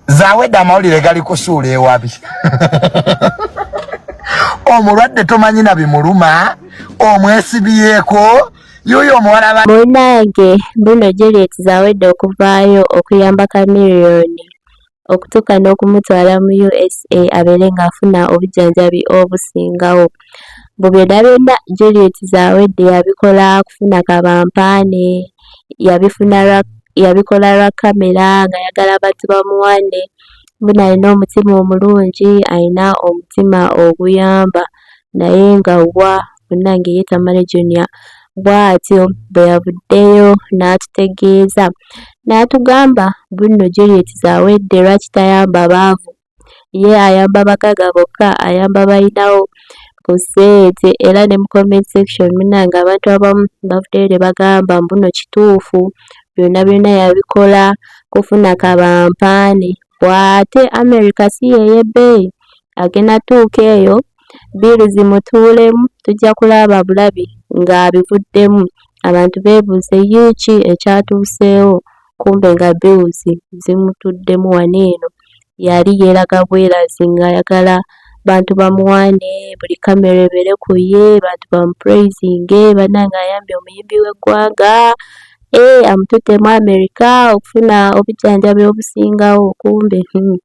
zawedde amawulire gali kusuula ewabi omulwadde tomanyi na bimuluma omwesibyeko yoyo omuwala munange bruno juliet zawedde okuvaayo okuyamba kamiriyoni okutuuka n'okumutwala mu usa abeere ng'afuna obujjanjabi obusingawo mbu byonna byonna juliet zawedde yabikola kufuna kabampaane yabifuna lwa yabikola lwa kkamera ng'ayagala abantu bamuwane mbona alina omutima omulungi alina omutima oguyamba naye nga wa munnange ye Tamale Junior bw'atyo bwe yavuddeyo n'atutegeeza n'atugamba bunno Juliet zawedde lwaki tayamba baavu ye ayamba bagaga bokka ayamba balinawo ku sente era ne mu comment section munange abantu abamu bavuddeyo ne bagamba mbuno kituufu byonna byonna yabikola kufuna kabampaane bw'ate america si yeeyebbeeyi agenda tuuka eyo bbiiru zimutuulemu tujja kulaba bulabi ng'abivuddemu abantu beebuuze yiiki ekyatuuseewo kumbe nga bills zimutuddemu wano eno yali yeeraga bwerazi ng'ayagala bantu bamuwaane buli kamera ebeere ku ye bantu bamupuleyizinge bannange ayambye omuyimbi w'eggwanga ee eh, amututte mu amerika okufuna obujjanjabi obusingawo kumbe hmm,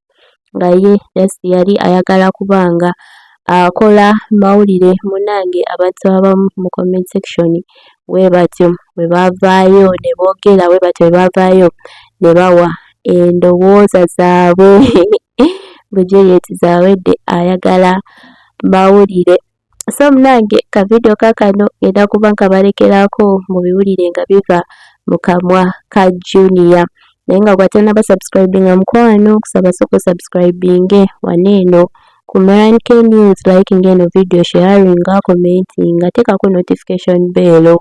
nga ye just yali ayagala kuba nga akola mawulire munnange abantu abamu mu comment section bwe batyo bwe bavaayo ne boogera bwe batyo bwe bavaayo ne bawa endowooza zaabwe mbu juliet zawedde ayagala mawulire so munange kavidiyo kakano ngenda kuba nkabalekeraako mu biwulire nga biva mu kamwa ka juniya naye nga gwatanaba subscribinga mukwano kusaba soko subscribinge wana eno ku mrnk news likinga eno vidiyo sharinga commentinga teekako notification beelo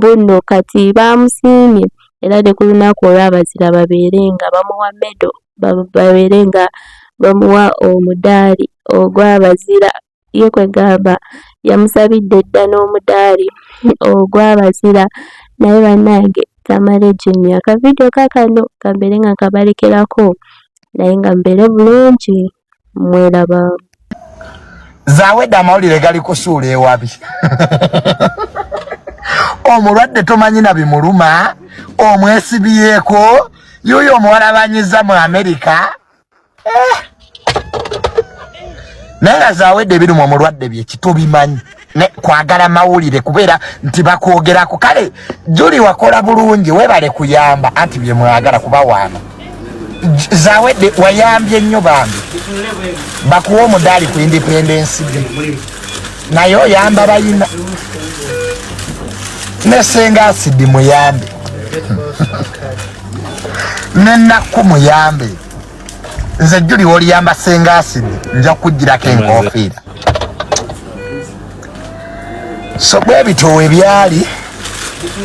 bunno kati baamusiimye era ne ku lunaku olw'abazira babeere nga bamuwa medo babeere nga bamuwa omudaali ogw'abazira ye kwegamba yamusabidde dda n'omudaali ogw'abazira naye bannange Tamale Junior ka vidiyo kaakano kambeere nga nkabalekerako naye nga mbeere bulungi mwelaba zawedde amawulire gali kusuula ewabi omulwadde tomanyi na bimuluma omwesibyeko yuyo omuwalabanyiza mu amerika eh. naye nga zawedde ebirimu omulwadde byekitobimanyi ne kwagala mawulire kubeera nti bakwogerako kale juli wakola bulungi webale kuyamba anti byemwagala kuba waana zawedde wayambye nnyo bambi bakuwa omudaali ku independensi de naye oyamba bayina nesenga asidi muyambe nenakku muyambe nze juli woliyamba senga asidi nja kujjirako enkofiira so bwebitoowe byali